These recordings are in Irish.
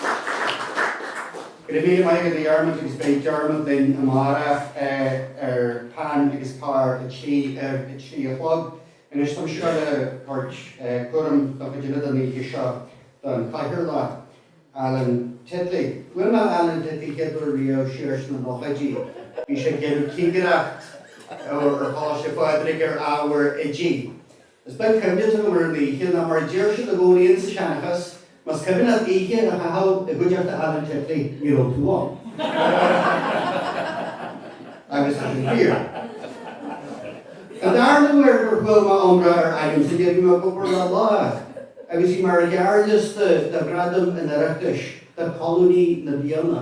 Go raibh míle maith agat, a Dhiarmuid, agus beidh Diarmuid linn amárach ar Peann agus Pár ar a trí a chlog. Anois, táimid seo le tabhairt cúram don chuid eile den oíche seo don chathaoirleach, Alan Titley. Bhuail mé Alan Titley chéad uair riamh siar sna nóchaidí. Bhí sé ag déanamh cigireacht ar Choláiste Phádraig ar ábhar oidí. Is beag cuimhne atá agam ar an oíche, nó mar a deir siad i gcónaí insa seanchas, más cuimhin leat oíche a chaitheamh i gcuideachta Alan Titley, ní raibh tú ann. Agus tá sin fíor. An darna huair a chuala mé iomrá ar Alan Titley, bhí mé i gCupar lá breá, agus bhí mé ar ghearrliosta do Ghradam an Oireachtais do Cholúnaí na Bliana.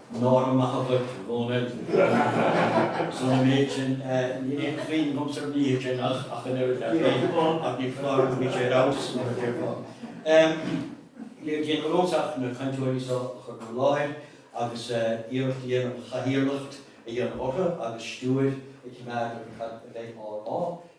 Nára maith agat, a Dhónaill. As son an méid sin, níl aon chuimhneamh a'msa ar an oíche sin ach an oiread, leat féin, ach ní foláir nó bhí sé ar fheabhas, mar a déarfá. Níl le déanamh agamsa ach na cainteoirí so a chur in bhur láthair agus iarracht a dhéanamh ar chathaoirleacht a dhéanamh orthu agus stiúir a choimeád ar cad a bheidh á rá.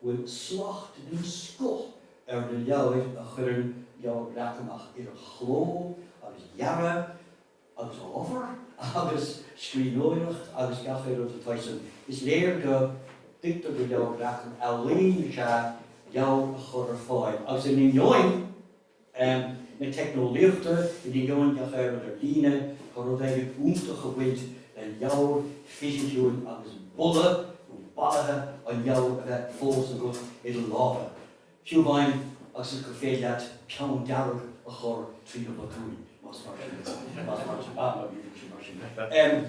bhfuil slacht den scoth ar na leabhair a chuireann Leabhar Breac amach idir chló agus dhearadh agus ábhar agus scríbhneoireacht agus gach aon rud atá san. Is léir go dtuigtear do Leabhar Breac an ealaín is ea leabhar a chur ar fáil agus in ainneoin, na teicneolaíochta in ainneoin gach aon rud ar líne go bhfuil rud éigin iontach ag baint le leabhar fisiciúil agus boladh nó bolaithe an leabhair a bheith fós agat i do lámha, fiú amháin agus gur féidir leat peann dearg a chur trí na botúin.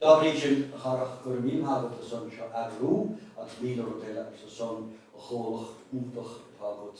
Dá bhrí sin, a Dharach, go raibh míle maith agat as son seo a eagrú agus míle rud eile agus as son an chomhlacht iontach atá agat.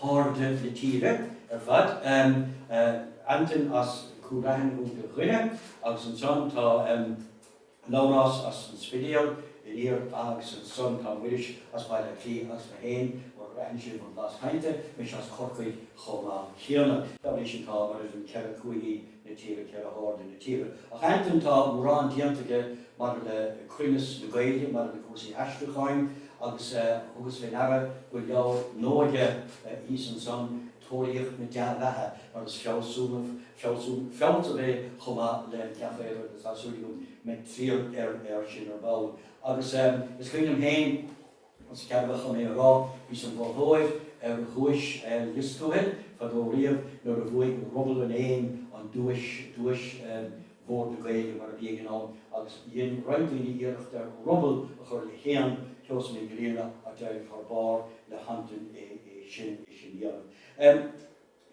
hairde na tíre ar fad. Antain as Cúil Raithin ó Dhoire agus ansan tá Labhrás as an Spidéal aniar agus ansan tá Muiris as Baile Átha Cliath agus mé féin, mura mbraitheann sibh mo bhlas cainte, mise as Corcaigh chomh maith céanna. Dá réir sin tá, mar a deir an ceithre cúigí. na tíre, ceithre hairde na tíre. Ach Antain, tá mórán déanta aige maidir le cruinneas na Gaeilge, maidir le cúrsaí aistriúcháin, agus thugas fé ndeara go bhfuil leabhar nua aige thíos ansan, Tóraíocht na Dea-Bheatha, mar is fealsúnach, fealsún, fealsamh é chomh maith le gach aon rud eile agus tá súil agam go mbeidh fáil air sin ar ball. Agus is cuimhin liom féin, más ceadmhach dhom é a rá, bhíos im mholtóir ar dhuais Lios Tuathail fadó riamh nuair a bhuaigh Ruball an Éin an duais, duais Bhord na Gaeilge mar a bhí ag an am, agus dhein roinnt daoine iarracht ar ruball a chur le héan Sheosaimh Mhic Grianna ach d'éirigh thar barr le hAntain é sin a dhéanamh.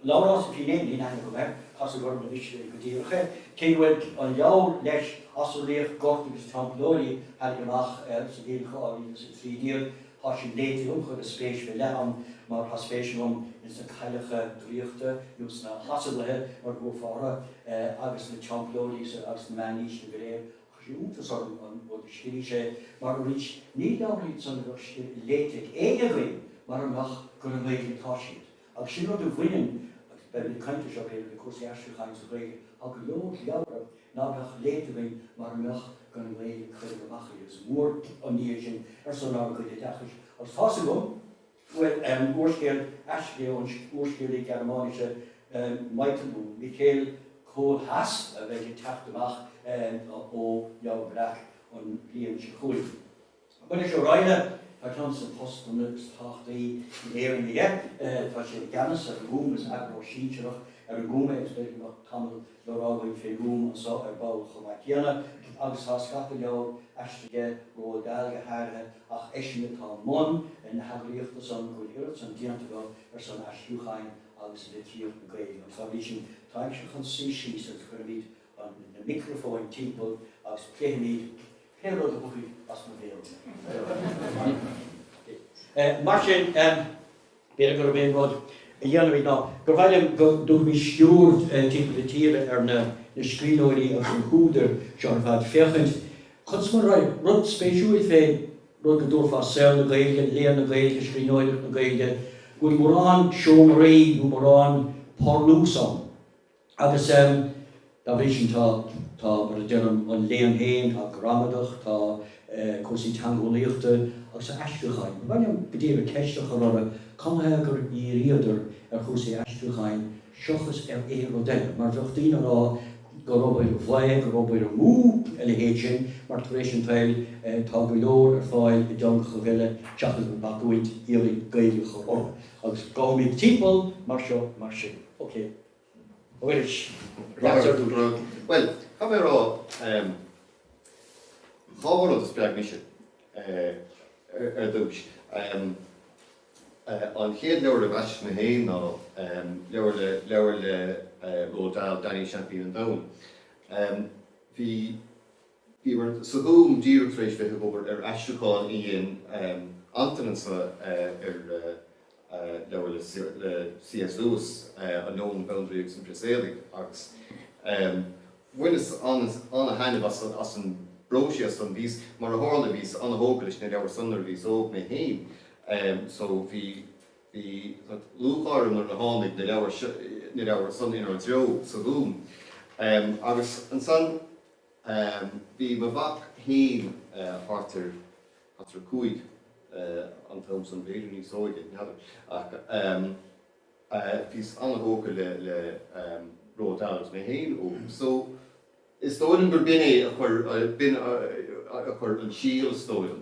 Labhrás Ó Finneadha, níl aithne agam air, casadh orm anois go díreach é, cé go bhfuil an leabhar leis Asarlaíocht, Goid agus Teampallóirí a tháinig amach sa bhliain 2013, tá sin léite agam, chuireas spéis faoi leith ann mar tá spéis agam ins na cailleacha draíochta nó sna hasarlaithe mar a thabharfá orthu agus na Teampallóirí agus na meánaoiseanna go léir. Chuir sé iontas orm an rud a scrígh sé mar arís ní leabhair iad san a bheadh léite ag éinne againn mara mbeadh gur i nGaeilge atá siad. Agus sin rud a bhaineann, agus beimid ag caint air seo, b'fhéidir, le cúrsaí aistriúcháin sa Ghaeilge, tá go leor leabhra ná beadh léite againn mara mbeadh gur i nGaeilge a cuireadh amach iad. Is mór an ní é sin ar son ár gcuid oideachais. Agus tá's agam go bhfuil, em, úrscéal aistrithe ón úrscéalaí Gearmáinise, em, Michael, nó Micheal, Kohlhaas a bheidh ag teacht amach, em, ó Leabhar Breac an bhliain seo chugainn. Muiris Ó Raghallaigh, tá ceann de na postanna is tábhachtaí in Éirinn aige. Tá sé i gceannas ar an nGúm, is eagarthóir sinsearach ar an nGúm é agus b'fhéidir go mbeadh tamall le rá againn fén nGúm anso ar ball chomh maith céanna. Agus tá scata leabhar aistrithe aige, Roald Dahl go háirithe, ach eisean atá i mbun na heagraíochta san, go bhfuil oiread san déanta acu ar son aistriúcháin agus litríocht na Gaeilge. Agus dá bhrí sin táimse chun suí síos agus cuirfimid na micreafóin timpeall agus pléifimid Pé rud a thiocfaidh as mo bhéal. Mar sin, b'fhéidir gurb é an rud a dhéanfaimid ná gur mhaith liom go dtabharfaimis stiúir timpeall na tíre ar na scríbhneoirí agus na húdair seo ar fad féachaint conas mar an rud spéisiúil fén rud go dtabharfá saol na Gaeilge, léann na Gaeilge, scríbhneoireacht na Gaeilge, go bhfuil mórán seomraí nó mórán parlús ann. Agus dá bhrí sin tá, tá, mar a deirim, an léann féin, tá gramadach, tá cúrsaí teangeolaíochta agus aistriúcháin. Ba mhaith liom go díreach ceist a chur orthu, cad ina thaobh gur dhíríodar ar chúrsaí aistriúcháin seachas ar aon rud eile? Mar bheadh daoine a rá gur obair bhaoth, gur obair amú a leithéid sin mar tar éis an tsaoil tá go leor ar fáil i dteangacha eile seachas an bacúint iarraidh Gaeilge a chur orthu. Agus gabhfaimid timpeall mar seo mar sin. Océ. Muiris, Leas Ard-Rúnaí. Bhuel, caithfidh mé a rá, dhá rud a spreag mise ar dtúis. An chéad leabhar a mheasas mé féin ná leabhar le Roald Dahl, Danny Seaimpín an Domhain. Bhí. Bhíomar sa Ghúm díreach tar éis bheith ag obair ar aistriúchán a dhein Antain anseo ar leabhar le C.S. Lewis, An Leon, an Bandraoi agus an Prios Éadaigh, agus bhaineas ana-thaitneamh as an bpróiseas san. Bhíos, mar a tharla, bhíos ana-thógtha leis na leabhair san nuair a bhíos óg mé féin so bhí lúcháir orm nuair a tháinig na leabhair san inár dtreo sa Ghúm. Agus ansan. Bhí mo mhac féin thart ar 5 an t-am san, b'fhéidir níos óige, n'fheadar, ach bhíos an-thógtha le Roald Dahl mé féin óg so is dóigh liom gur b'in é a chuir an síol is dóigh liom.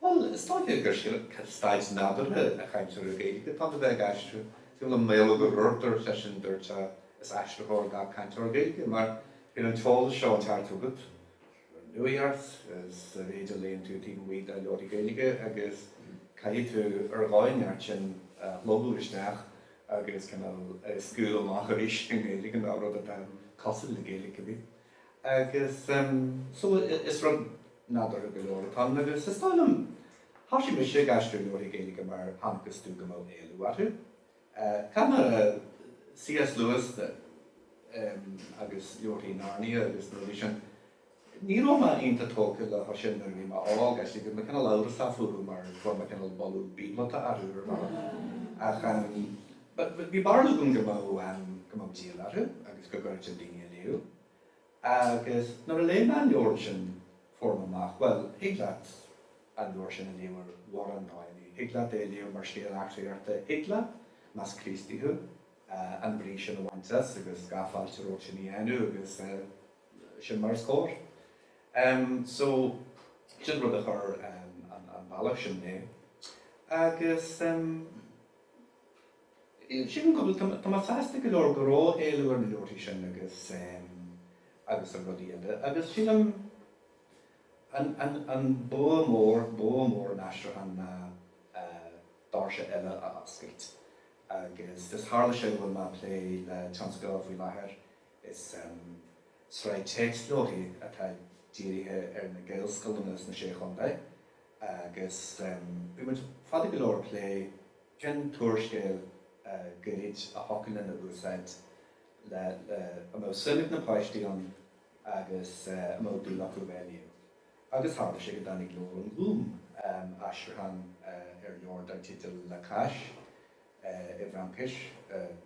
Bhuel, is dóiche gur staid nádúrtha ag cainteoir Gaeilge atá ann a bheith ag aistriú. Fiú le Maolmhaodhóg Ó Ruairc, is eisean a dúirt é, is aistritheoir gach cainteoir Gaeilge, mar tá an t-eolas seo ag teacht chugat, an nuacht, is an méid a léann tú taobh amuigh de leabhair Ghaeilge agus caithfidh tú ar dhóigh inteacht sin a shlogadh isteach agus cineál scaoileadh amach arís i nGaeilge nó rud atá cosúil le Gaeilge, go minic. Agus so, is rud nádúrtha go leor atá ann agus is dóigh liom, thoisigh mise ag aistriú leabharthaí Gaeilge mar chonacthas domh go mbeadh éileamh orthu. I dtaca le C.S. Lewis de agus leabharthaí Narnia agus na rudaí sin, ní raibh mé iontach tógtha leo sin nuair a bhí mé óg, actually, bhí mé cineál amhrasach fúthu mar fuair mé cineál boladh bíobalta orthu ar bhealach. Ach. Bhí barúil agam go mbeadh, em, go mbeadh díol orthu agus go gcuirfeadh siad daoine ag léamh. Agus nuair a léigh mé an leabhar sin fuair mé amach, bhuel, thig leat an leabhar sin a léamh ar mhórán bhealaí. Thig leat é a léamh mar scéal eachtraíochta, thig leat, más Críostaí thú, an bhrí sin a bhaint as agus gach fáilte romhat sin a dhéanamh agus sin mar is cóir. So, sin rud a chuir an bealach sin mé. Agus. Sílim go bhfuil, tá mé sásta go leor go raibh éileamh ar na leabharthaí sin agus, agus ar rudaí eile agus sílim an, an, an bua mór, bua mór an aistriúcháin ná doirse eile a oscailt agus is tharla sé go bhfuil mé ag plé le tionscadal faoi láthair, is sraith téacsleabharthaí atá dírithe ar na Gaelscoileanna sna Sé Chontae. Agus bhí muid fada go leor ag plé cén t-úrscéal Gaeilge a thiocfadh linn a úsáid, le a mbeadh suim ag na páistí ann agus a mbeadh dúil acu a bheith ag léamh. Agus tharla sé go dtáinig leabhar ón Ghúm, aistriúchán ar leabhar dar teideal La Cache. i bhFraincis,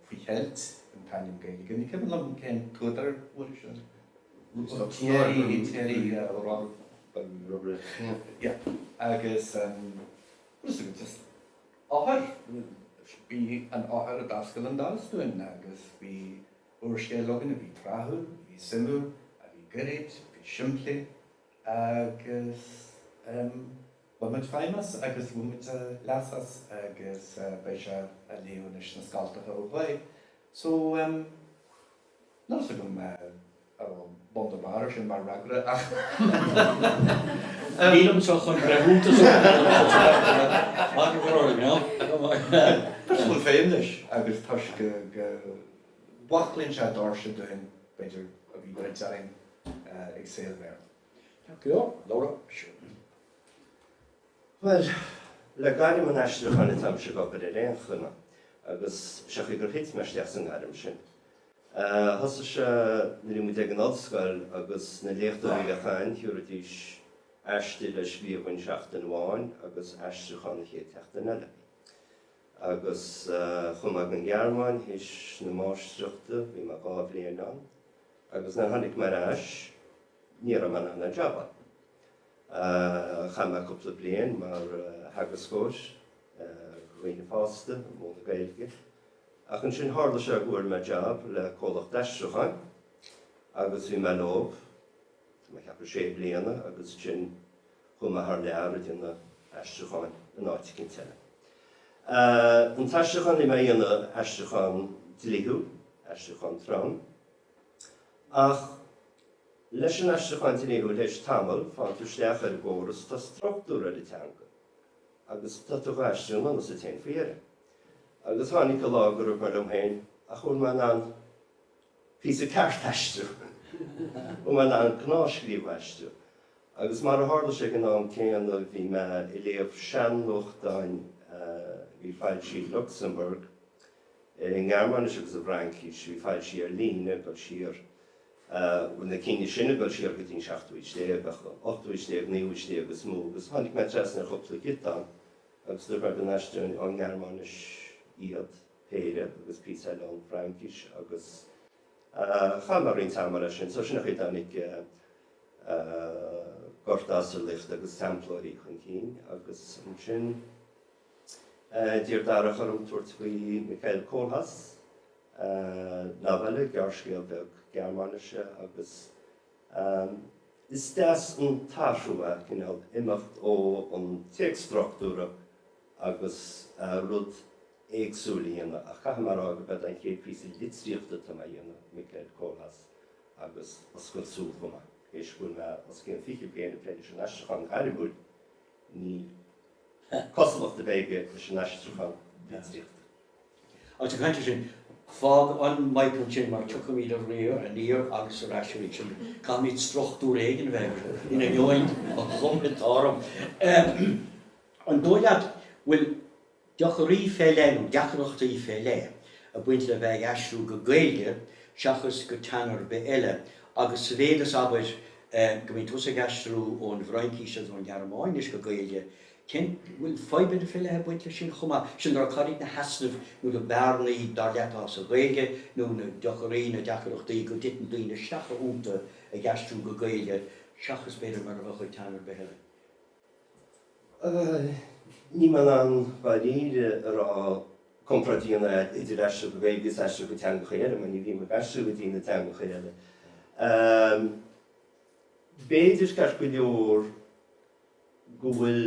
faoi cheilt an t-ainm Gaeilge. Ní cuimhin liom cén t-údar a fuair sin. Thierry Robberecht agus just an eochair, bhí an eochair a d'oscail an doras dúinn agus bhí úrscéal againn a bhí tráthúil, a bhí suimiúil, a bhí gairid, a bhí simplí agus. Bhain muid feidhm as agus bhain muid leas as agus beidh sé á léamh anois sna scoltacha ó thuaidh. So, em, níl a fhios agam, a' raibh bun ná barr air sin mar fhreagra ach em. Nílimse chun breithiúntas a thabhairt ar an scéal, mar go raibh, you know. Toisc go bhfuil feidhm leis agus toisc go, go, bhfosclaíonn sé doirse dúinn, b'fhéidir, a bhí druidte orainn ag saol an Bhéarla. Tá ciall le rud mar sin. Bhuel, le gairm an aistriúcháin atáimse ag obair ar aon chuma, agus sé an chaoi gur thit mé isteach sa ngairm sin. Thosaigh sé nuair a bhí muid ag an ollscoil agus na léachtóirí a bhí againn, thiúrfaidís aiste le scríobh dhúinn seachtain amháin agus aistriúchán an chéad tseachtain eile. Agus chuaigh mé ag an nGearmáin théis na máistreachta, bhí mé dhá bhliain ann. Agus nuair a tháinig mé ar ais, ní raibh mé in ann aon jab a. Chaith mé cúpla bliain mar theagascóir ar dhaoine fásta, ag múineadh Gaeilge. Ach ansin tharla sé go bhfuair mé jab le comhlacht aistriúcháin agus bhí mé leo, mé ag ceapadh, sé bliana agus ansin chuaigh mé thar lear ag déanamh aistriúcháin in áit éicint eile. An t-aistriúchán a bhí mé a dhéanamh, aistriúchán dlíthiúil, aistriúchán trom. Ach leis an aistriúchán dlíthiúil tar éis tamaill, faigheann tú isteach ar an gcóras, tá struchtúr ar an teanga agus tá tú dhá aistriú i ngan fhios dhuit fhéin faoi dheireadh. Agus tháinig an lá gur dhúirt mé liom féin ach bhfuil mé in ann píosa ceart a aistriú, bhfuil mé in ann gnáthscríobh a aistriú. Agus mar a tharla sé, ag an am céanna bhí mé ag léamh sean-nuachtáin a bhí foilsithe i Lucsamburg, i nGearmáinis agus i bhFraincís, bhí foilsithe ar líne ag dul siar, bhuel na cinn sin ag dul siar go dtí an seachtú haois déag, ach ochtú haois déag, naoú haois déag is mó, agus tháinig mé trasna ar chúpla giota ann agus dúirt mé go n-aistreoinn ón nGearmáinis iad, péire, agus píosa eile ón bhFraincis agus chaith mé roinnt ama leis sin, so sin an chaoi a dtáinig Gorta, Asarlaíocht agus Teamplóirí chun cinn agus ansin. D'iarr Darach orm tabhairt faoi Michael Kohlhaas, novella, gearrscéal beag Gearmáinise, agus is deas an t-athrú é, cineál, imeacht ón téacs struchtúrtha agus rud éagsúil a dhéanamh ach caithfidh mé a rá gurb é an chéad phíosa litríochta atá mé a dhéanamh, Michael Kohlhaas, agus oscailt súl chomh maith, théis go bhfuil mé os cionn fiche bliain ag plé leis an aistriúchán gairmiúil. Ní haon chosúlacht a bheadh aige leis an aistriúchán litríochta. Ag caint air sin, fág an Michael sin mar tiocfaimid aniar ar an aistriúchán arís agus caithfimid struchtúr éigin a bheith air in ainneoin an chuma atá orm. An dóigh leat go bhfuil. deacraí fé leith, nó deacrachtaí fé leith, ag baint le bheith ag aistriú go Gaeilge seachas go teanga ar bith eile, agus sa mhéid is, abair, go mbíonn tusa ag aistriú ón bhFraincís agus ón Ghearmáinis go Gaeilge, cén, an bhfuil fadhbanna fé leith ag baint leis sin chomh maith. Sin le rá, cad iad na heasnaimh nó na bearnaí, dar leat, atá sa Ghaeilge, nó na deacraí, na deacrachtaí, go dtiteann daoine isteach iontu ag aistriú go Gaeilge seachas, b'fhéidir, mar a bheadh ag teanga ar bith eile? Níl mé in ann dáiríre a rá, comparáid a dhéanamh idir aistriú go Gaeilge is aistriú go teangacha eile, mar ní bhím ag aistriú go dtí na teangacha eile. B'fhéidir, ceart go leor, go bhfuil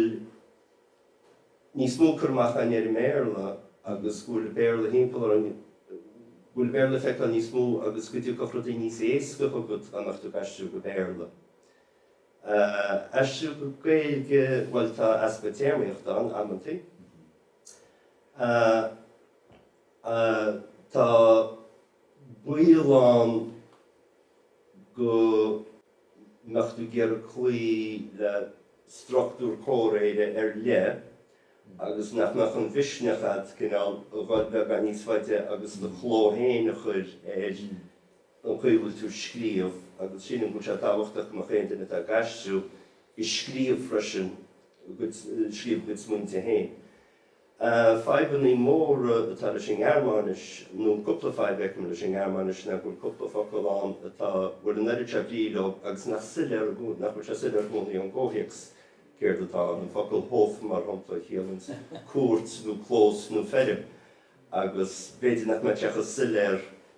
níos mó cur amach ann ar an mBéarla agus go bhfuil an Béarla thimpeall orainn, go bhfuil an Béarla le feiceáil níos mó agus go dtiocfadh rudaí níos éasca chugat in ionad a bheith ag aistriú go Béarla. Aistriú go Gaeilge, bhuel tá easpa téarmaíochta ann amantaí. Tá baol ann go mbeadh tú ag iarraidh cloí le struchtúr comhréire ar leith agus nach mbeadh an mhisneach agat cineál a dhul beagán níos faide agus do chló féin a chur ar. an chaoi a bhfuil tú ag scríobh agus sílim go bhfuil sé tábhachtach go mbeadh aon duine atá ag aistriú ag scríobh freisin ag scríobh a gcuid smaointe féin. Fadhbanna móra atá leis an nGearmáinis, nó cúpla fadhb a fheicim leis an nGearmáinis ná go bhfuil cúpla focal ann atá bhfuil an oiread seo brí leo agus nach soiléir nach bhfuil sé soiléir i gcónaí ón gcomhthéacs céard atá ann, an focal Hof mar shampla a chiallaíonns cúirt nó clós nó feirm agus b'fhéidir nach mbeadh sé chomh soiléir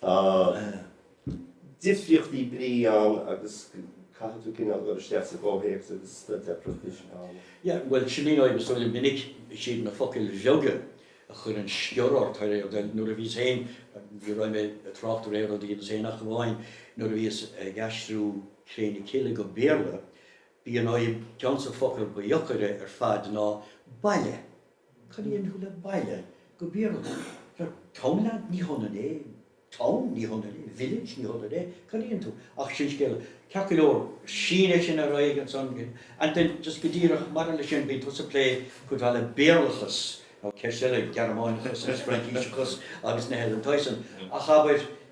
Tá difríochtaí brí ann agus caithfidh tú cineál cur isteach sa gcomhthéacs agus sin deacracht ann. Yeah, bhuel, sin í an fhadhb, is dóigh liom. Minic, siad na focail bheaga a chuireann sciorr ort, ar ndóigh. Bhuel, nuair a bhíos féin, ní bheidh mé ag trácht ar aon rud a dhéanas féin ach amháin nuair a bhíos ag aistriú Cré na Cille go Béarla, b'í an fhadhb, ceann de na focail ba dheacaire ar fad ná baile. Cá gcuireann tú baile go Béarla? Bhuel, townland? Ní hionann é. Town? Ní hionann é. Village? Ní hionann é. Cailleann tú. Ach sin scéal eile, ceart go leor. Sin é, sin a raibh ansan. Antain, just go díreach maidir leis sin, bíonn tusa ag plé cuid mhaith le Béarlachas, nó ceist eile, Gearmáineachas agus Fraincíseachas agus ná a leithéid san. Ach abair.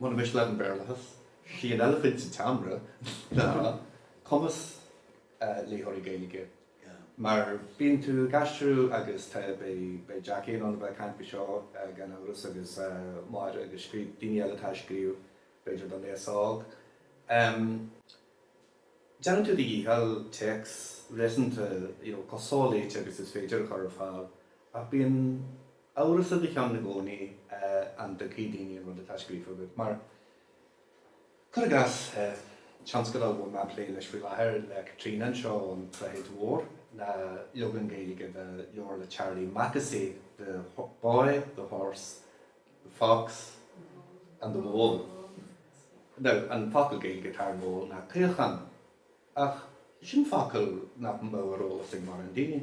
Muna miste leat an Béarlachas, 'sí an eilifint sa tseomra ná cumas léitheoirí Gaeilge? Mar bíonn tú ag aistriú agus beidh Jack in ann a bheith ag caint faoi seo gan amhras agus Máire agus daoine eile atá ag scríobh b'fhéidir don aos-óg. Déanann tú do dhícheall téacs réasúnta, you know, chomh soléite agus is féidir a chur ar fáil ach bíonn. Amhras i do cheann i gcónaí an dtuigfidh daoine an rud atá scríofa agat. Mar, cuir i gcás, tionscadal a bhfuil mé ag plé leis faoi láthair le Caitríona anseo ón tSnáthaid Mhór ná leagan Gaeilge de leabhar le Charlie Mackesy, The Boy, the Horse, the Fox and the Mole. Now, an focal Gaeilge atá ar mole ná caochán, ach sin focal nach mbeadh ar eolas ag mórán daoine.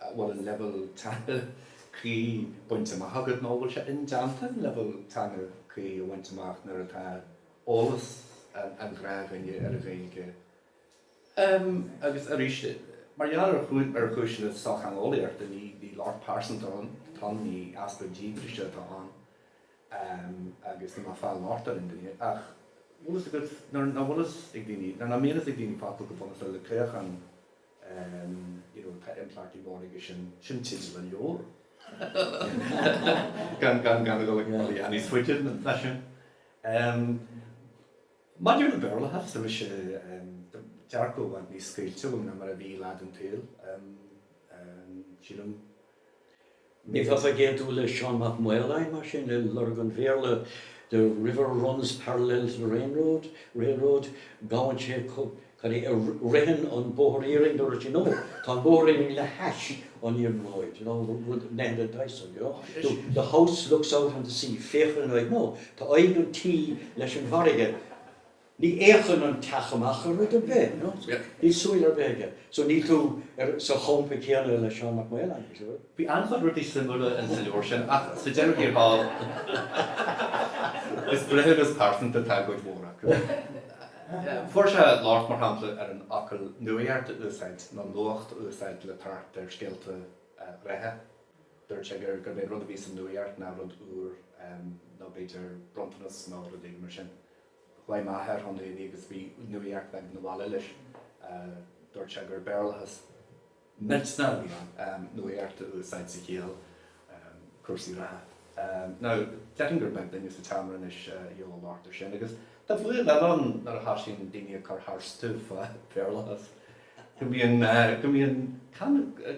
a bhfuil an leibhéal teanga cuí bainte amach agat nó a bhfuil sé indéanta an leibhéal teanga cuí a bhaint amach nuair atá eolas an ghnáthdhuine ar an Ghaeilge ann. Agus arís, mar gheall ar chúiseanna sochtheangeolaíochta, ní locht pearsanta atá ann, ní easpa díograise atá ann agus ní ag fáil locht ar aon duine. Ach bhfuil fhios agat, nuair nach bhfuil fhios ag daoine, nuair nach mbíonn fhios ag daoine focal chomh bunúsach le caochán, you know, tá impleachtaí móra aige sin, sin teideal an leabhair, gan gan gan a dhul a dhath níos faide ná sin. Maidir le Béarlachas, bhí sé dearcadh i bhfad níos scaoilte agam ná mar a bhí lá den tsaol, sílim. Nílfeá ag aontú le Seán Mac Maoláin, mar sin, le Lorg an Bhéarla, The river runs parallel to the rainroad, railroad, gabhann sé, cad é, ritheann an bóthar iarainn, nuair a, you know, tá an bóthar iarainn le hais an iarnróid, you know, rud, nó a leithéid sin, you know, the, the house looks out on the sea, féachann an aghaidh, no, tá aghaidh an tí leis an bhfarraige. Ní fhéachann an teach amach ar rud ar bith, you know, so níl súil ar bith aige. So níl tú ar, sa champa céanna le Seán Mac Maoláin, I'm sure. Bhí an-chuid rudaí suimiúla in sa leabhar sin, ach sa deireadh thiar thall, is breithiúnas pearsanta atá i gcuid mhór acu. Fuair sé locht, mar shampla, ar an fhocal 'nuaíocht' a úsáid, nó 'nuacht' a úsáid le tabhairt ar scéalta reatha. Dúirt sé gur, gurb é an rud a bhí sa nuaíocht ná rud úr, nó b'fhéidir bronntanas nó rud éigin mar sin. Ghlaoigh m'athair chugainn inné agus bhí nuaíocht bheag abhaile leis. Dúirt sé gur Béarlachas milteanach a bhí ann, nuaíocht a úsáid sa chiall cúrsaí reatha. Now, déarfainn gur beag duine sa seomra anois a dheineann labhairt air sin. Agus tá bua eile ann nuair a thosaíonn daoine ag cur tharstu fá Bhéarlachas, go mbíonn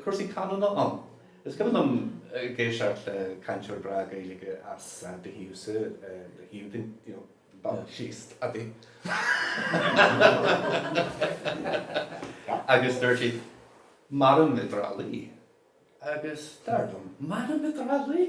cúrsaí canúna ann. Is cuma liom ag éisteacht le cainteoir breá Gaeilge as do thaobh sa, do thaobh den, you know, den bhaile síos, Padaí. Agus dúirt siad, Mairim i dTrá Lí. Agus dar liom, Mairim i dTrá Lí?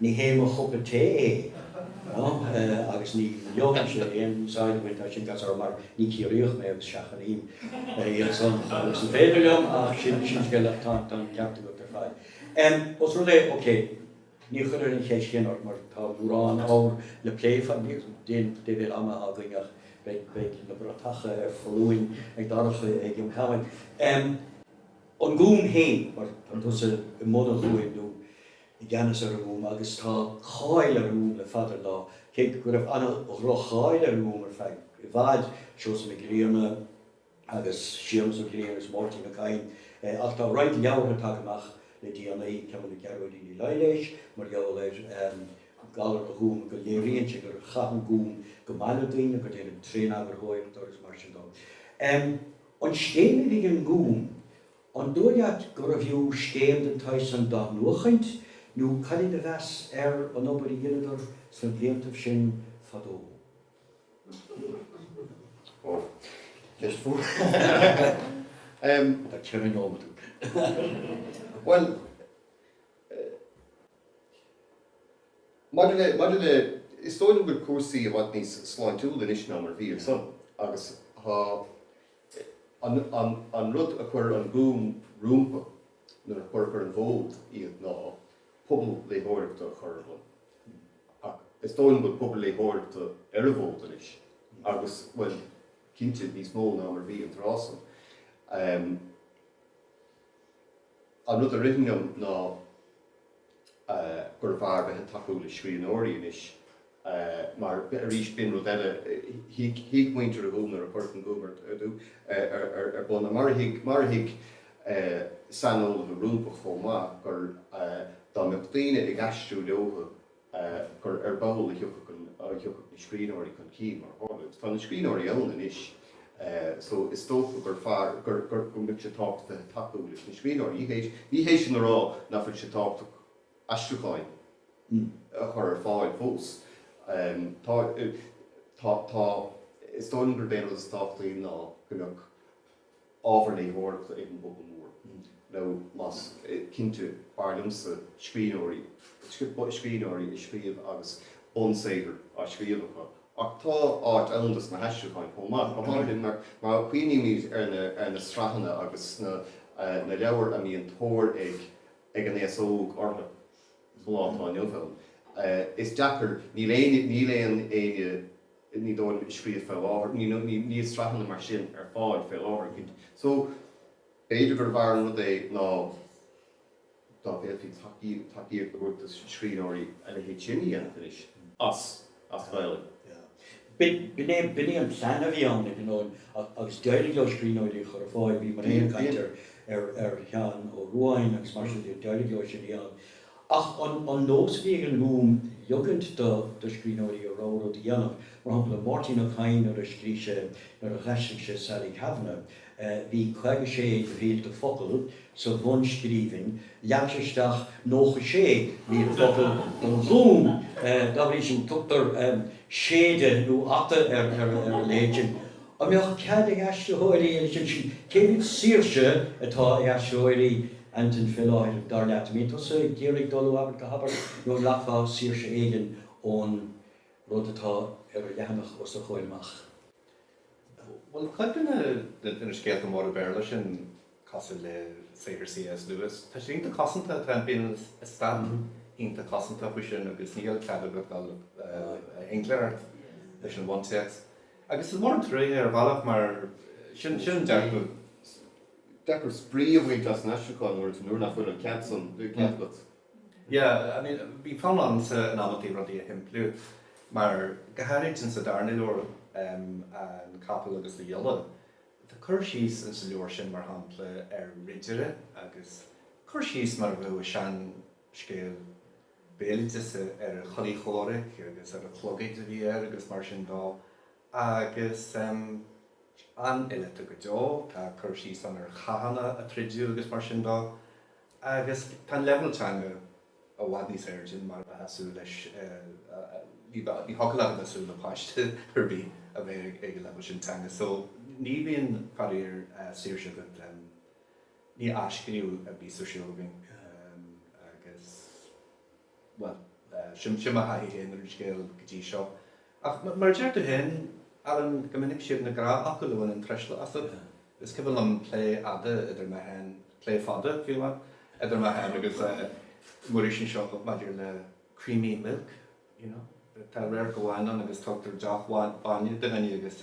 Ní hé mo chupa tae é, agus ní ligimse aon úsáid a bhaint as sin, mar ní Ciarraíoch mé agus seachnaím iadsan fhad is is féidir liom, ach sin scéal eile. Tá an ceart agat ar fad. Os rud é, ok, ní chuirfead an cheist sin ort mar tá mórán ábhar le plé, faraor níl mórán ama againn ach beidh na bratacha ar foluain ag Darach ag an am sin. An Gúm féin, mar tá tusa i mbun an Ghúim, nó i gceannas ar an nGúm agus tá cáil ar an nGúm le fada an lá, cé go raibh an-dhroch-cháil ar an nGúm ar feadh i bhfad, Seosamh Mac Grianna agus Séamus Ó Grianna agus Máirtín Ó Cadhain. Ach tá roinnt leabhartha tagtha amach le déanaí, ceann le Gearóidín Ní Laighléis, mar gheall ar ghalar an Ghúim, go léiríonn sí gur chaith an Gúm go maith le daoine, gur déanadh tréaneagarthóireacht orthu agus mar sin de. An scéim a bhí ag an nGúm, An dóigh leat gurbh fhiú scéim den tsaghas san d'athnuachaint, nó cad é do mheas ar an obair a dheineadar sna bliantaibh sin fadó? Ó, is fiú. Tá ceithre nóiméad agat. Bhuel, maidir le, maidir le, is dóigh liom go bhfuil cúrsaí i bhfad níos sláintiúla anois ná mar a bhí ansan, agus tá, An rud a chuir an gúm rompu nuair a cuireadh ar an bhfód iad ná pobal léitheoireachta a chur ar bun. Ach is dóigh liom go bhfuil pobal léitheoireachta ar an bhfód anois agus, bhuel, cinnte, níos mó ná mar a bhí an tráth san. An rud a ritheann liom ná gurbh fhearr bheith ag tacú le scríbhneoirí anois mar, arís, b'in rud eile, thuig muintir an Ghúim nuair a cuireadh an Gúm ar bun, mar a thuig, mar a thuig saineolaithe rompu chomh maith, gur, dá mbeadh daoine ag aistriú leotha, gur ar ball a thiocfadh na scríbhneoirí chun cinn, mar a tharla. Tá na scríbhneoirí ann anois so is dócha gur fearr, go mbeadh sé tábhachtaí tacú leis na scríbhneoirí. Ní hé sin a rá nach bhfuil sé tábhachtach aistriúcháin a chur ar fáil fós. Tá, tá, tá. Is dóigh liom gurb é an rud is tábhachtaí ná go mbeadh. ábhar léitheoireachta ag an bpobal mór, nó más cinnte, b'fhearr liomsa scríbhneoirí, scríbhneoirí ag scríobh agus bunsaothar á scríobh acu. Ach tá áit ann dos na haistriúcháin chomh maith, go háirithe mar a chuimhnímid ar na sraitheanna agus na leabhair a mbíonn tóir ag an aos óg orthu sa lá atá inniu ann. Is deacair, níl aon éinne, Ní dóigh liom, ag scríobh fé láthair. Ní, níl sraitheanna mar sin ar fáil fé láthair. So, b'fhéidir gurbh fhearr an rud é ná dá bhféadfaí tacaíocht a thabhairt do scríbhneoirí a leithéid sin a dhéanamh anois as Gaolainn. B'in é an plean a bhí ann, ag an am, agus d'éirigh leo scríbhneoirí a chur ar fáil. Bhí mé féin ag caint ar Sheán Ó Ruadháin agus mar sin de. D'éirigh leo sin a dhéanamh. Ach an nós a bhí ag an nGúm ligeaint do scríbhneoirí a rogha rud a dhéanamh, mar shampla Máirtín Ó Cadhain nuair a scrígh sé nuair a dh'aistrigh sé Sally Kavanagh, bhí caoga sé de mhílte focal sa bhunscríbhinn, leag sé isteach nócha sé mhíle focal don Ghúm. Dá bhrí sin tugtar séideadh nó ata ar a leithéid sin. An mbeadh cead ag aistritheoirí, agus ansin cé mhéad saoirse atá ag aistritheoirí? Antain, Fé láthair, dar leat, an mbíonn tusa ag iarraidh dul ó abairt go habairt nó an nglacfá saoirse éigin ón rud atá ar an leathanach os do chomhair amach? Bhuel cuid de na scéalta móra Béarla sin cosúil le saothar C.S. Lewis. Tá sé iontach cosanta, tá, bíonn an t-eastát iontach cosanta faoi sin agus níl cead agat dul i ngleic leis an bhuntéacs. Agus is mór an truaighe ar bhealach mar sin an dearcadh. Deacair spraoi a bhaint as an aistriúchán nuair nach bhfuil an cead san agat. Yeah, I mean, bhí fonn ormsa in amantaí rudaí a shimpliú, mar go háirid insa darna leabhar, An Capall agus a Ghiolla. Tá cur síos sa leabhar sin, mar shampla, ar ridire agus cur síos mar a bheadh i seanscéal béaloideasa ar a chulaith chomhraic agus ar an chlogaid a bhí air agus mar sin dó. Agus an-fhileata go deo. Tá cur síos ann ar chathanna a troideadh agus mar sin dó. Agus tá an leibhéal teanga i bhfad níos airde mar a bheifeá ag súil leis. Ní thiocfadh leat a bheith ag súil le páiste ar bith a bheith ag an leibhéal sin teanga. So ní bhíonn, faraor, saoirse agat, ní athscríobh a bíos ar siúl againn agus, bhuel, sin mo thaithí féin ar an scéal go dtí seo. Ach mar a deir tú féin, Alan, go minic siad na gnáthfhocla a bhaineann truisle asat. Is cuimhin liom plé fhada idir mé féin, plé fada, fiú, idir mé féin agus Muiris anseo maidir le creamy milk, you know. Tá radharc amháin ann agus tugtar deoch bhainne do dhuine agus.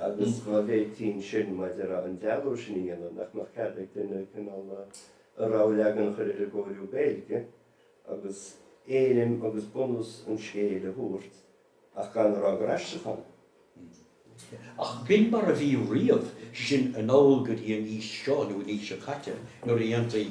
Agus dá bhféadfaí ansin, mar a déarfá, an dealú sin a dhéanamh, nach mbeadh cead ag duine cineál a rogha leagan a chur ar an gcóiriú Gaeilge agus éirim agus bunús an scéil a thabhairt ach gan a rá gur aistriúchán é? Ach b'in mar a bhí riamh, sin anall go dtí an aois seo nó an aois seo caite nuair a dhéantaí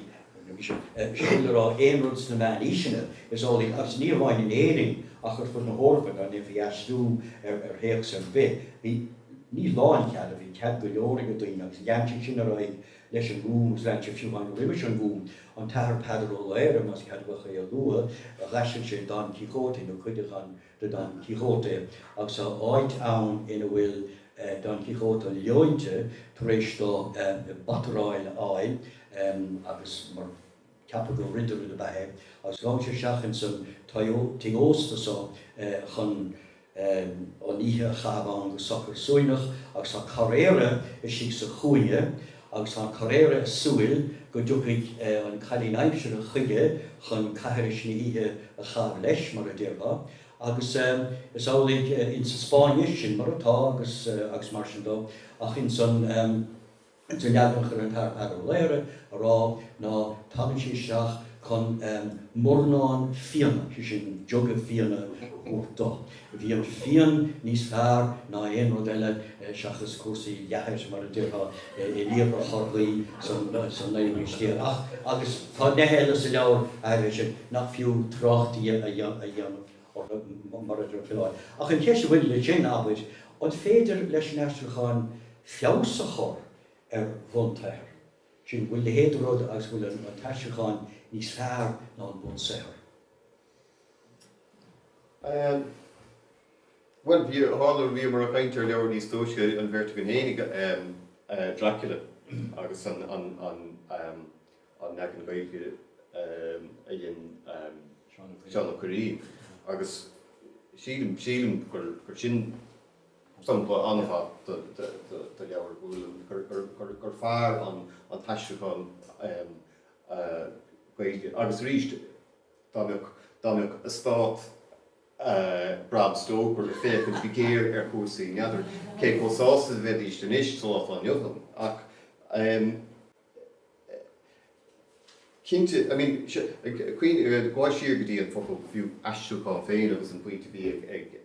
Sin le rá aon rud sna Meánaoiseanna, is amhlaidh, agus ní hamháin in Éirinn ach ar fud na hEorpa, dá ndéanfaí aistriú ar théacs ar bith, bhí, ní lánchead, ach bhí cead go leor ag daoine agus lean sé sin ar aghaidh leis an nGúm agus lean sé fiú amháin roimis an nGúm. An tAthair Peadar Ó Laoghaire, más ceadaithe é a lua, d'aistrigh sé Don Quixote, nó cuid de Dhon de Don Quixote agus tá áit ann ina bhfuil Don Quixote leointe tar éis dó bataráil a fháil agus mar ceapadh gur ridire ab ea é agus ghabh sé isteach ins an tigh ósta so chun an oíche a chaitheamh ann go socair suaimhneach agus tá carraeire istigh sa chúinne agus tá an carraeire ag súil go dtiocfaidh an cailín aimsire chuige chun caithris na hoíche a chaitheamh leis, mar a déarfá, agus is amhlaidh insa Spáinnis, sin mar atá, agus agus mar sin dó, ach ins an leagan a chuir an tAthair Peadar Ó Laoghaire air ná tagann sí isteach chun mornán fíona, sé sin, jug of fíona a thabhairt dó. Bhí an fíon níos fearr ná aon rud eile seachas cúrsaí leathair, mar a déarfá, in Iarthar Chorcaí san naoú haois déag. Ach, agus tá neithe eile sa leabhar áirithe sin nach fiú trácht a dhéanamh orthu, mar a déarfá. Ach an cheist an bhfuil le sin, abair, an féidir leis an aistriúchán feabhas a chur ar bhunsaothar? Sin, bhfuil a leithéid de rud agus go bhfuil an t-aistriúchán níos fearr ná an bunsaothar? Bhuel, bhí, a tharla, bhíomar a' caint ar leabhar níos túisce, an bheirt againn fhéinig, Dracula agus an, an, an, an leagan Gaeilge a dhein Seán Ó Cuirrín agus sílim, sílim gur, gur sin sampla an-mhaith de, de, de, de leabhar a bhfuil an, gur, gur, gur, gur fearr an, an t-aistriúchán Gaeilge agus arís, Dá mbeadh eastát Bram Stoker ag féachaint go géar ar chúrsaí, n'fheadar cé chomh sásta a bheidíst anois sa lá atá inniu ann. Ach cinnte, I mean, sea, gabh siar go dtí an focal, fiú, aistriúchán féin agus an pointe a bhí ag.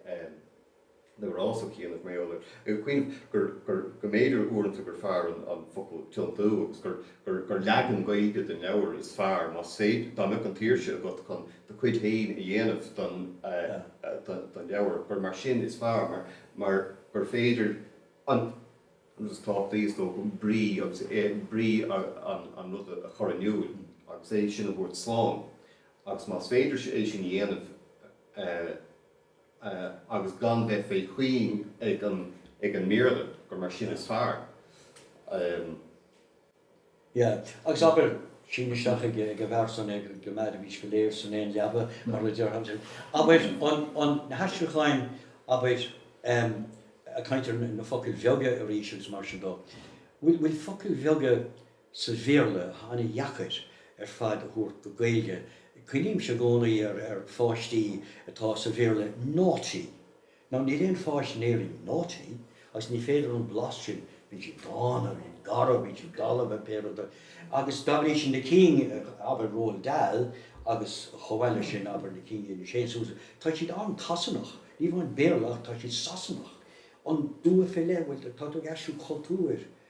na gcros ó chianaibh mar gheall air ag cuimhneamh gur, gur, go mb'fhéidir uaireanta gur fearr an, an focal tiontú agus gur, gur, gur leagan Gaeilge den leabhar is fearr, más féidir, dá mbeadh an tsaoirse agat chun do chuid féin a dhéanamh den, den, den leabhar, gur mar sin is fearr mar, mar gur féidir an rud is tábhachtaí, is dócha, brí agus brí an, an rud a chur in iúl agus é sin a thabhairt slán agus más féidir é sin a dhéanamh eh. agus gan bheith fé chuing ag an ag an mBéarla, gur mar sin is fearr. Yeah. Agus abair, sín isteach dá bharr san go mbeidís go léir san aon leaba, mar a deir Hamilton. Abair, an, an, na haistriúcháin, abair, em, caintear na focail bheaga arís agus mar sin dó. Bhfuil, bhfuil focail bheaga. sa Bhéarla an-deacair ar fad a thabhairt go Gaeilge. Cuimhnímse i gcónaí ar pháistí atá sa Bhéarla naughty. Now níl aon pháiste in Éirinn naughty agus ní féidir an blas sin, bíonn siad dána, bíonn siad garbh, bíonn siad dalba, bíonn pé rud é agus dá bhrí sin na cinn, abair Roald Dahl agus chomh maith leis sin abair na cinn C.S. Lewis, tá siad an-tSasanach, ní amháin Béarla ach tá siad Sasanach. An dua fé leith, bhuel tá tú ag aistriú cultúir.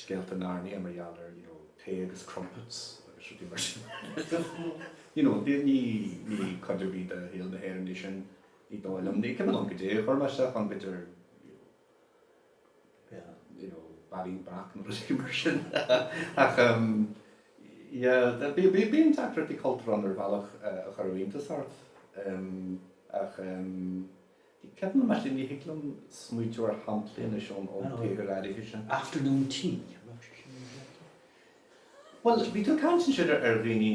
scéalta Narnia mar gheall ar you know tae agus crumpets agus rudaí mar sin you know ní ní ní cuid ar bith de shaol na hÉireann é sin ní dóigh liom ní cuimhin liom cad é a chuir mé isteach b'fhéidir you know bairín breac nó rudaí mar sin ach um, bíonn tagairtí cultúir ann ar bhealach uh, a chuirfeadh iontas ort um, ach um, Bhí ceann amháin, thig liom smaointiú ar shamplaí anois ón tsaghas áirithe sin. Afternoon tea, an raibh sé sin ar an gcairt? Bhuel, bhí tú ag caint ansin ar dhaoine,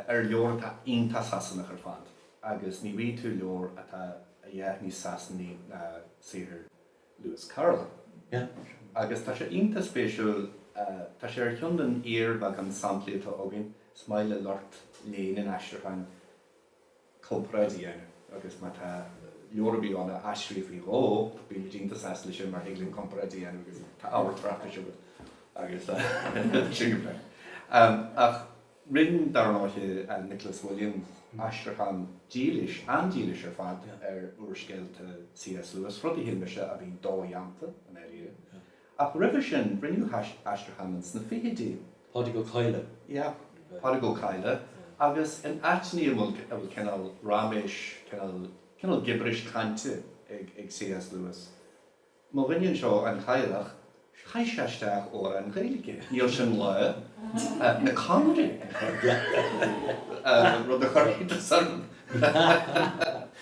ar leabhar atá iontach Sasanach ar fad agus ní bhfaighidh tú leabhar atá a dhath níos Sasanaí ná saothar Lewis Carroll. Agus tá sé iontach spéisiúil, tá sé ar cheann den fhíorbheagán samplaí atá againn, is maith le lucht léinn an aistriúcháin comparáid a dhéanamh agus má tá leabhar ar bith ann a aistríodh faoi dhó, bíonn muid iontach sásta leis sin mar thig linn comparáid a dhéanamh agus tá ábhar tráchtais agat agus sin go breá. Ach rinn, dar ndóiche, Nicholas Williams aistriúchán dílis, an-dílis ar fad, ar úrscéalta C.S. Lewis, rud a shíl mise a bhí dodhéanta i ndáiríre. Ach roimhe sin, rinneadh aistriúchán ann sna fichidí. Pádraig Ó Cadhla. Yeah, Pádraig Ó Cadhla. Agus in áiteanna a bhfuil cineál raiméis, cineál gibiris cainte ag CS Lewis, mo dhuine anseo, an Cadhlach, chaith sé isteach amhrán Gaeilge. Níl sé ina lá na Conairí, rud a chuirfidh do shorb.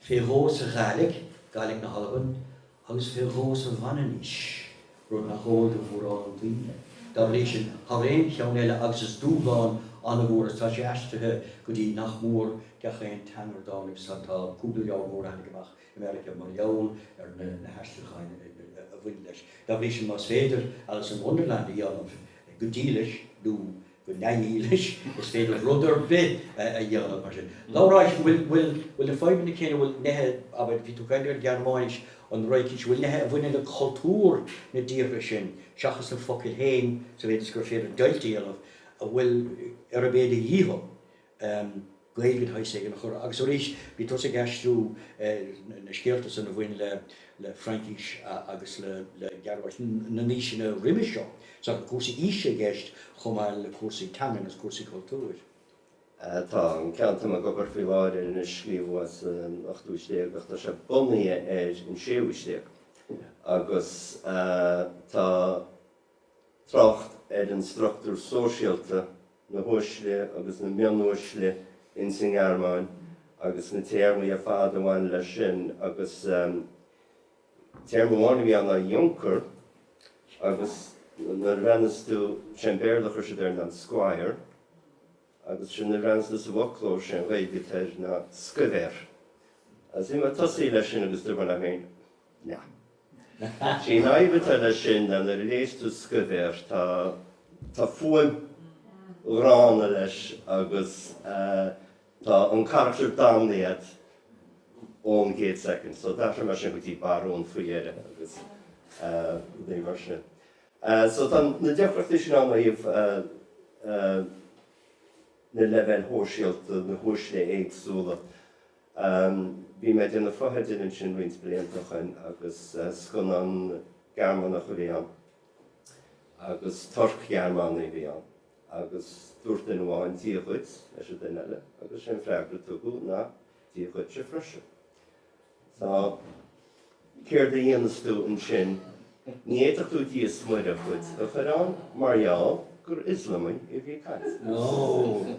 fé dhó sa Ghaidhlig, Gaidhlig na hAlban, agus fé dhó sa Mhanainnis, rud nach eol do mhórán daoine. Dá bhrí sin, thar aon cheann eile, agus is dúshlán an-mhór is tá sé aistrithe go dtí nach mór gach aon teanga dhá dtáinig san. Tá cúpla leabhar mór tháinig amach i Meiriceá mar gheall ar na haistriúcháin a bhain leis. Dá bhrí sin, más féidir Alice in Wonderland a dhéanamh go dílis, nó. go neamhdhílis, is féidir rud ar bith a dhéanamh mar sin. Labhrás, bhfuil, bhfuil, bhfuil na fadhbanna céanna, bhfuil neithe, abair, bhí tú ag caint ar an Ghearmáinis, an Fhraincis, bhfuil neithe a bhaineann le cultúr na dtíortha sin, seachas na focail féin, sa mhéid is gur féidir deighilt a dhéanamh, bhfuil, ar a mb'fhéidir a dhéanamh, Gaeilge de shaghas éigin a chur. Agus arís, bhí tusa ag aistriú na scéalta san a bhain le Fraincis agus le Gearmáin na n-aoiseanna roimis seo. So cúrsaí aoise i gceist chomh maith le cúrsaí teanga agus cúrsaí cultúir. Tá an ceann atá mé ag obair faoi láthair air anois, scríobhadh é san ochtú haois déag ach tá sé bunaithe ar an séú haois déag. Agus tá trácht ar an struchtúr sóisialta, na huaisle agus na mionuaisle ins an nGearmáin agus na téarmaí ar fad a bhain leis sin agus téarma amháin a bhí ann ná Junker agus nuair a bhreathnaíos tú, sé an Béarla a chuir siad air ná an Squire agus sin nuair a bhreathnaíos tú sa bhfoclóir, sé an Ghaeilge atá air ná Scuibhéir. Agus bhí mé ag tosaí leis sin agus dúirt mé liom féin, An fhadhb atá leis sin, nuair a léas tú scuibhéir, tá fuaim ghránna leis agus tá an carachtar damnaithe ón gcéad soicind. So d'athraigh mé sin go dtí barún faoi dheireadh agus rudaí mar sin. So tá na deacrachtaí sin ann ó thaobh na leibhéil shóisialta, na huaisle éagsúla. Um, bhí mé ag déanamh fotheidil ansin roinnt blianta o shoin agus scannán Gearmánach a bhí ann agus Turc-Ghearmánaigh a bhí ann agus dúirt duine amháin Dia dhuit leis an duine eile agus sé an freagra a tugadh ná Dia dhuitse freisin. Tá. Céard a dhéanfas tú ansin? Ní fhéadfadh tú Dia's Muire dhuit a chur ann mar gheall gur Ioslamaigh a bhí ag caint ann. Ó!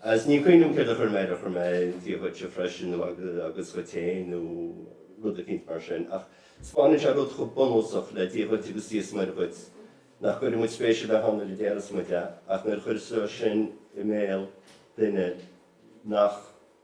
Agus ní cuimhním céard a chuir mé air, ar chuir mé Dia dhuitse freisin nó agus dhuit féin nó rud eicínt mar sin. Ach spáineann sé rud chomh bunúsach le Dia dhuit agus Dia's Muire dhuit nach gcuireann muid spéis ar bith ann nuair a déarfas muid é ach nuair a chuirfeas tú é sin i mbéal duine nach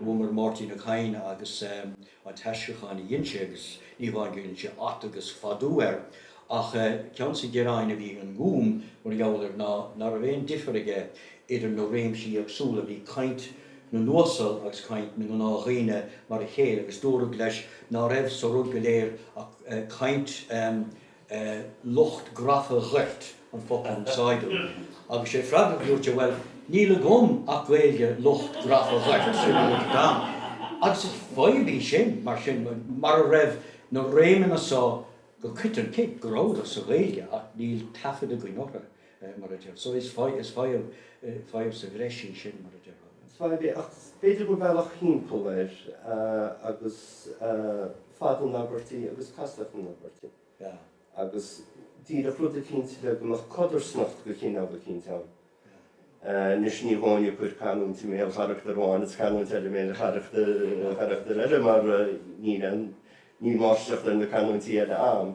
Luamar Máirtín Ó Cadhain agus an t-aistriúchán a dhein sé agus ní hamháin go ndein sé at agus fadú air ach ceann des na gearáin a bhí ag an nGúm mar gheall air ná ná raibh aon difear aige idir na réimsí éagsúla, bhí caint na n-uasal agus caint na ngnáthdhaoine mar a chéile agus dúradh leis ná raibh sa rud go léir ach caint. lucht grafa ghoirt an focal a úsáideadh agus sé freagra a dúirt sé, bhuel, níl agam ach Gaeilge lucht grafa ghoirt, sin an rud agam. Agus is fadhb í sin, mar sin, mara raibh na réimeanna so go coiteann, cé go rabhadar sa Ghaeilge ach níl taifead againn orthu. mar a deir. So is fadhb sa bhreis í sin, mar a déarfá. Is fadhb í, ach b'fhéidir gur bealach thimpeall air agus fad na n-abairtí agus castacht na n-abairtí agus díreach rud eicínt le go mbeadh codarsnacht de chineál eicínt ann. Anois ní bheinn ag cur canúint i mbéal charachtar amháin is canúint eile i mbéal charachtar eile mar níl máistreacht ar na canúintí eile agam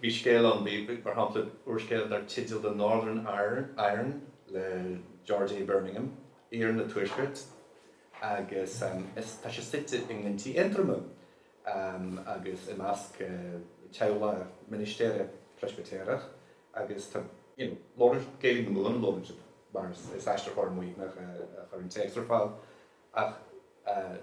Bhí scéal ann, bhí, mar shampla, úrscéal dar teideal The Northern Iron le George A. Birmingham, Iarann an Tuaiscirt, agus tá sé suite i nGlinntí Aontroma agus i measc teaghlach ministéara Preispitéireach agus tá, you know, labhairt, Gaeilg na Mumhan á labhairt mar is aistritheoir Muimhneach a chuir an téacs ar fáil. Ach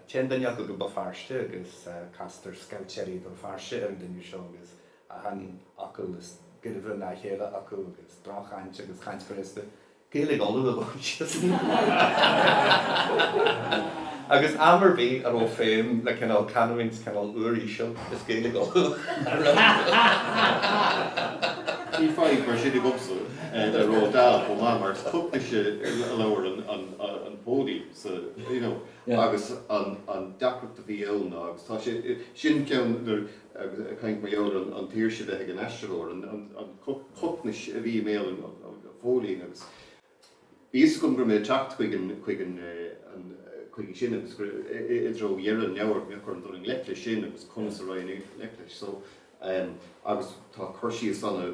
téann duine acu go Béal Feirste agus castar scaibhtéirí Bhéal Feirste ar an duine seo agus achan fhocal is gairbhe ná a chéile acu agus droch-chaint agus caint ghraosta Gaeilge Uladh a labhairt síos agus am ar bith a raibh feidhm le cineál canúint cineál uiríseal, is Gaeilge Uladh a bhí acu. Bhí fadhb mar sin agamsa le Roald Dahl chomh maith mar is Cocnais a labhair an póilín. So, you know, agus an deacracht a bhí ann ná, agus tá sé, sin ceann ag caint mar gheall ar an tsaoirse bheith ag an aistritheoir, an Cocnais a bhí i mbéal an phóilín agus bhí a fhios agam go raibh mé ag teacht chuig an, chuig an, chuige sin agus go raibh, i dtreo dheireadh an leabhair, bheadh orm dul i ngleic leis sin agus conas a raghainn i ngleic leis. So, agus tá cur síos ana,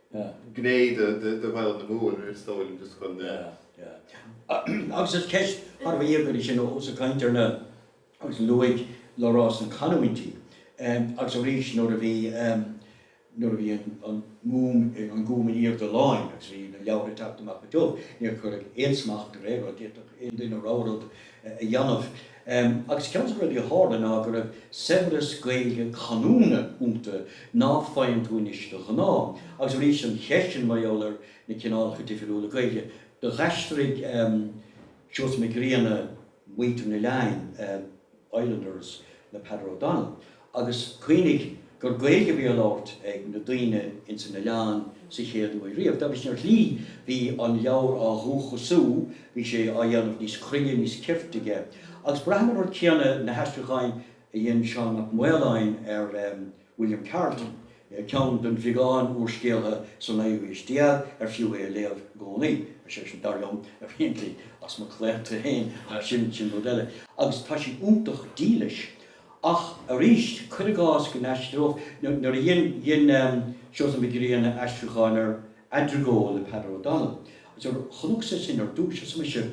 gné de Ghaeilge na Mumhan, is dóigh liom, de scoil na. Agus is ceist thar a bheith íogair í sin ós ag caint ar na. Agus luaigh Labhrás na canúintí agus arís nuair a bhí nuair a bhí an Gúm an Gúm in aoirde láin agus bhí na leabhartha ag teacht amach go tiubh, níor cuireadh aon smacht ar aon rud, d'fhéadfadh aon duine a rogha rud a dhéanamh. Agus ceann de na rudaí a tharla ná go raibh saibhreas Gaeilge canúna iontu ná faigheann tú anois de ghnáth. Agus arís an cheist sin mar gheall ar na cineálacha difriúla Gaeilge. Do dh'aistrigh Seosamh Mac Grianna Muintir an Oileáin, Islanders, le Peadar O'Donnell. Agus cuimhnigh gur Gaeilge a bhí á labhairt ag na daoine ins an oileán sa chéad uair riamh. Dá bhrí sin, ar shlí, bhí an leabhar á dhúchasú, bhí sé á dhéanamh níos cruinne, níos cirte aige. Agus braithim an rud céanna na haistriúcháin a dhein Seán Mac Maoláin ar William Carleton, ceann den bheagán úrscéalaithe sa naoú haois déag ar fiú é a léamh i gcónaí, sé sin, dar liom, apparently, as mo chlaonta féin, ach sin rud eile. Agus tá sé iontach dílis. Ach arís, cuir i gcás go n-aistreodh, nuair a dhein Seosamh Mac Grianna aistriúchán ar Adrigoole le Peadar O'Donnell, agus nuair a chonacsa sin ar dtúis, arsa mise,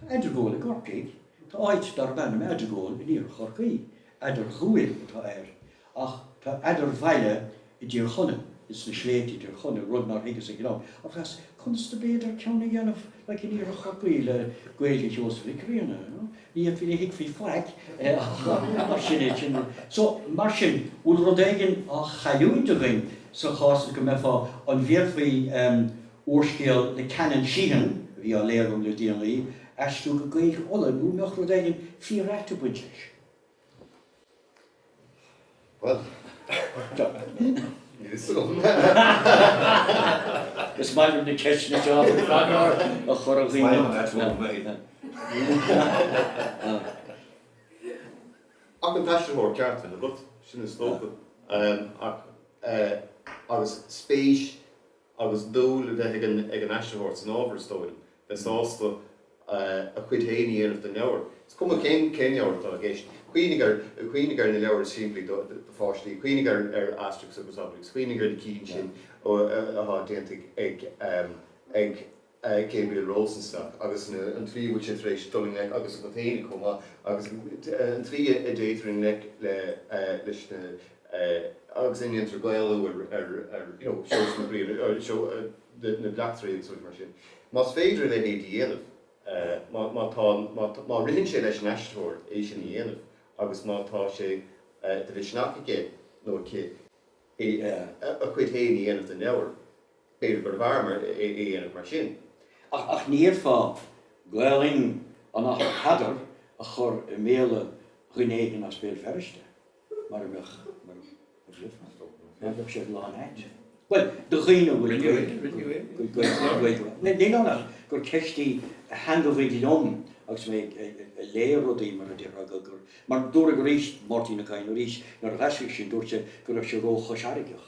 Tá Adrigole i gCorcaigh, tá áit darb ainm Adrigole in iarthar Chorcaí, Eadarghabhail atá air, ach tá Eadarbhaile i dTír Chonaill, ins na sléibhte i dTír Chonaill, rud nár thuigeas ag an am, agus conas ab fhéidir ceann a dhéanamh, like in Iarthar Chorcaí le Gaeilge Sheosaimh Mhic Grianna, you know. Ní fhéadfaí, ní thuigfí faic ach sin é, sin é. So, mar sin, bhfuil rud éigin á chailliúint againn sa chás is go mbeifeá, an bhféadfaí úrscéal le Canon Sheehan, a bhí á léamh agam le déanaí, a aistriú go Gaeilge Uladh, nó an mbeadh rud éigin fíor-ait ag baint leis? Is maith liom na ceisteanna seo a chur ar dhaoine. Ach an t-aistritheoir ceart agat, sin is dócha, agus spéis agus dúil a bheith ag an aistritheoir san ábhar, is dóigh liom, bheith sásta a chuid féin a dhéanamh den leabhar, is cuma cén leabhar atá i gceist. Cuimhnigh ar na leabhair is simplí do pháistí, cuimhnigh ar Asterix agus Obelix, cuimhnigh ar na cinn sin atá déanta ag. Gabriel Rosenstock, agus an tslí a bhfuil sé tar éis dul i ngleic, agus agat féin chomh maith, agus an tslí a dtéitear i ngleic leis na, agus a ndéantar Gaelú ar, you know, Seosamh Mac Grianna, ar na bleachtairí agus rudaí mar sin. Más féidir a leithéid a dhéanamh, má tá, má ritheann sé leis an aistritheoir é sin a dhéanamh agus má tá sé de mhisneach aige nó aici a chuid féin a dhéanamh den leabhar, B'fhéidir gurbh fhearr é a dhéanamh mar sin. Ach ní fhéadfá Gaolainn an Athar Peadar a chur i mbéal duine éigin as Béal Feirste, mar bheadh sé lán ait. Bhuel, do dhaoine a bhfuil Gaolainn, níl ann ach gur ceist í a theangmhaigh liom agus mé ag léigh rudaí, mar a déarfá, gur, mar dúradh arís, Máirtín Ó Cadhain arís, nuair a dh'aistrigh seisean, dúirt sé go raibh sé ró-Chois Fharraigeach.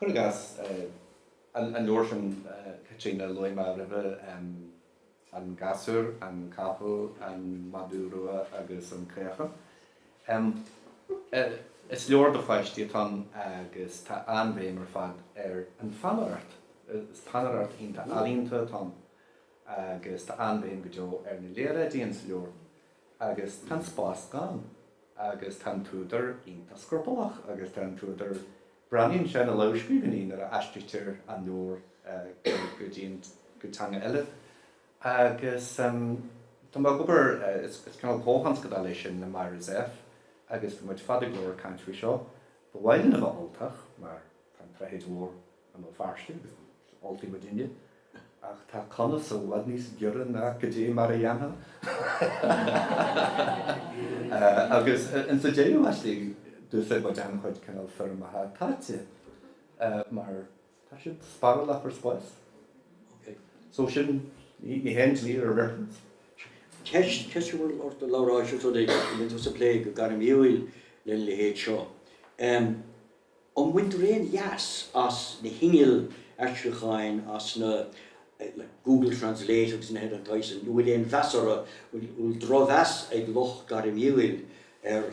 Cuir i gcás, an leabhar sin Caitríona a luaigh mé roimhe, An Gasúr, an Capall, an Madadh Rua agus an Caochán. Is leabhar do pháistí atá ann agus tá an-bhéim ar fad ar an pheannaireacht. Is peannaireacht iontach ealaíonta atá ann agus tá an-bhéim go deo ar na léaráidí in sa leabhar. Agus tá an spás gann agus tá an t-údar iontach scrupallach agus tá an t-údar. Breathnaíonn sé na lamhscríbhinní nuair a aistrítear an leabhar go dtí an, go teanga eile agus tá mé ag obair, is cineál comhthionscadal é sin le Myra Zepf agus bhí muid fada go leor ag caint faoi seo. Ba mhaith linn a bheith Ultach mar tá An tSnáthaid Mhór i mBéal Feirste agus is Ultaigh muidinne. Ach tá conas i bhfad níos giorra ná cad é mar a dhéanfá agus insa deireadh laistigh d'úsáid muid an-chuid cineál foirmeacha táite mar tá siad spárálach ar spás. So sin, níl aon dlí ar an riachtanas. Ceist, ceist a bhfuil ort, a Labhráis, ós rud é go mbíonn tú ag plé go gairmiúil lena leithéid seo. An mbaintear aon leas as na hinnill aistriúcháin, as na, like, Google Translate agus nithe den tsaghas sin? Nó an bhfuil aon mheas orthu, an bhfuil drochmheas ag lucht gairmiúil ar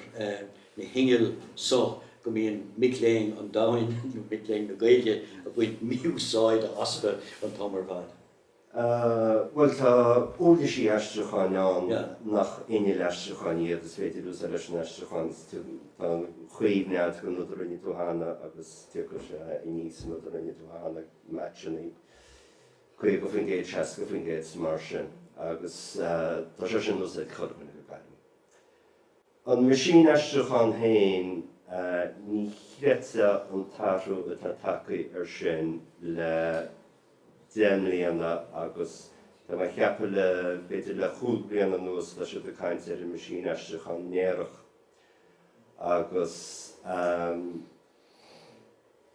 na hinnill so go mbíonn mic léinn an domhain, nó mic léinn na Gaeilge, ag baint mí-úsáide astu an t-am ar fad? Bhuel, tá uirlisí aistriúcháin ann nach innill aistriúcháin iad, agus is féidir a úsáid leis an aistriúchán atá ag coinneáil an rud a rinne tú cheana agus tiocfaidh sé aníos an rud a rinne tú cheana, matching í 50%, 60%, mar sin, agus tá sé sin in úsáid ag chuile dhuine go gairid. An meaisín aistriúcháin féin, ní chreidfeá an t-athrú atá tagtha air sin le deich mbliana agus tá mé ag ceapadh le, b'fhéidir, le cúig bliana anuas tá siad ag caint ar an meaisín aistriúcháin néarach agus.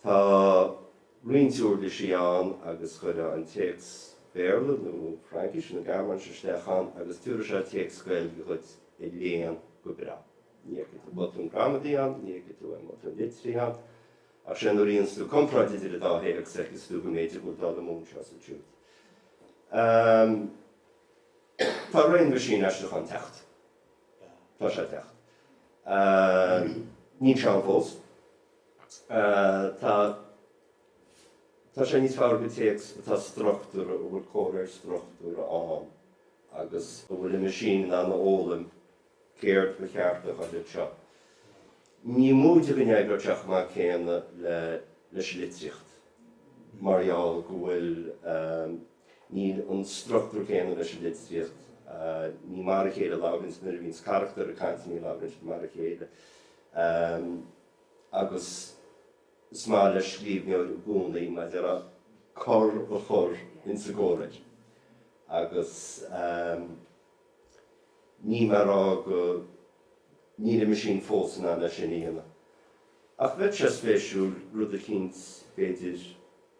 Tá roinnt uirlisí ann agus cuirfeá an téacs Béarla nó Fraincis nó Gearmáinis isteach ann agus tiúrfaidh sé téacs Gaeilge dhuit a léann go breá. Ní fheicfidh tú botún gramadaí ann, ní fheicfidh tú aon bhotún litrithe ann. Ach sé nuair a dhéanfas tú comparáid idir an dá théacs feicfidh tú go mb'fhéidir go bhfuil dul amú anseo is ansiúd. Tá ré an mheaisín aistriúcháin ag teacht. Tá sé ag teacht. Níl sé ann fós. Tá tá sé níos fearr go théacs atá struchtúrtha, a bhfuil comhréir struchtúrtha ann agus a bhfuil an meaisín in ann a fhoghlaim céard ba cheart a chur anseo. Ní móide go n-oibreodh sé chomh maith céanna le leis an litríocht mar gheall go bhfuil, Níl an struchtúr céanna leis an litríocht. Ní mar a chéile a labhraíonn tú nuair a bhíonns carachtair ag caint, ní labhraíonn siad mar a chéile. Agus is maith le scríbhneoir i gcónaí mar a déarfá cor a chur ins an gcomhréir. Agus níl mé ag rá go, níl an meaisín fós in ann é sin a dhéanamh. Ach bheadh sé spéisiúil, rud eicínt, b'fhéidir.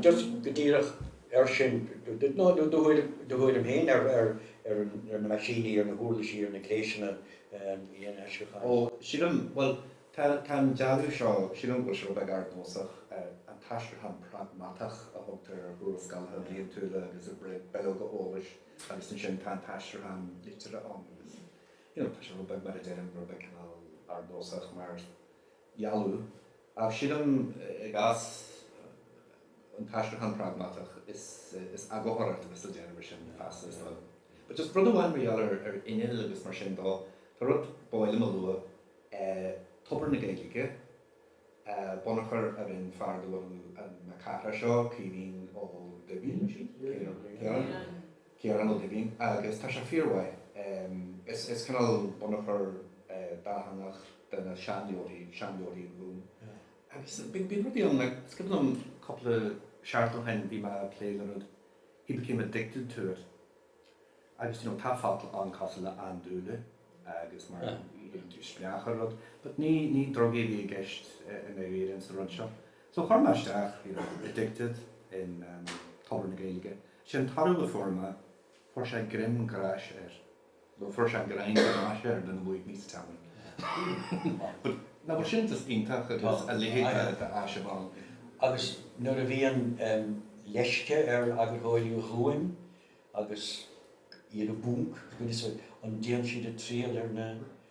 Just go díreach air sin, do thuairim féin ar na meaisíní, ar na huirlisí, ar na gléasanna aistriúcháin. Ó, sílim, bhuel, tá an dealú seo, sílim go bhfuil sé rud beag ardnósach, an t-aistriúchán pragmatach a thugtar ar thuarascálacha bliantúla agus ar bhileoga eolais agus ansin tá an t-aistriúchán liteartha ann agus, you know, tá sé rud beag, mar a deirim, rud beag cineál ardnósach mar, dhealú. Ach sin an, i gcás, an t-aistriúchán pragmatach is eagarthóireacht le déanamh, mar sin, feasta, is dóigh. But just rud amháin mar gheall ar innill agus mar sin de, tá rud ab áil liom a lua, eh, tobar na Gaedhilge, eh, bunachar a rinn fear de bhunadh an, na cathrach seo, Caoimhín Ó Duibhín, mar sin? Ciaran? Ciaran. Ciarán Ó Duibhín, Agus tá sé fíormhaith. Is cineál bunachar dátheangach de na seanleabharthaí, seanleabharthaí an Ghúim. Agus bíonn rudaí ann, like, is cuimhin liom, cúpla seachtain ó shin bhí mé ag plé le rud, he became addicted to it. Agus, do you know, tá focal ann cosúil le andúile agus mar a théann tú isteach ar rud. But ní, ní drugaí a bhí i gceist i ndáiríre insan rud seo. So chuir mé isteach, you know, addicted in, um, Tobar na Gaeilge. Sé an toradh a fuair mé, fuair sé greim gráis air, nó fuair sé greim gráis air lena bhfuath níos teann. But, nach bhfuil sin just iontach agus a leithéid de áis a bheith ann. Agus nuair a bhíonn leisce ar eagarthóirí uaim agus iad i bponc, goodness, an dtéann siad ag triall ar na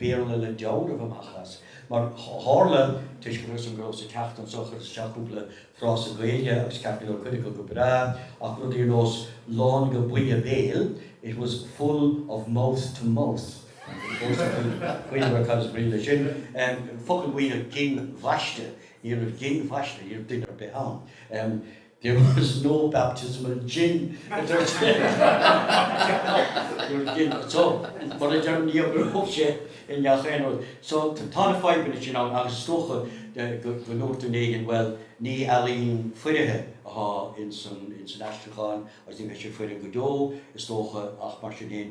Béarla le dealramh amach as, mar tharla, toisc go rabhas anois go rabhas ag teacht anso chuireas isteach cúpla frása Gaeilge agus ceart go leor cuid acu go breá ach rudaí ar nós lán go, buí, béil, it was full of mouth to mouth, agus fós ag maíomh go raibh cad is brí le sin, focal buí, gin bhaiste, ní raibh gin bhaiste ar bith ar bith ann. There was no baptism of gin, a dúirt So, mar a deir Niamh, gur thug sé i ngach aon rud. So, tá na fadhbanna sin ann agus is dócha go ndúirt duine éigin, bhuel, ní ealaín foirfe atá ins an aistriúchán agus ní bheidh sé foirfe go deo, is dócha, ach mar sin féin,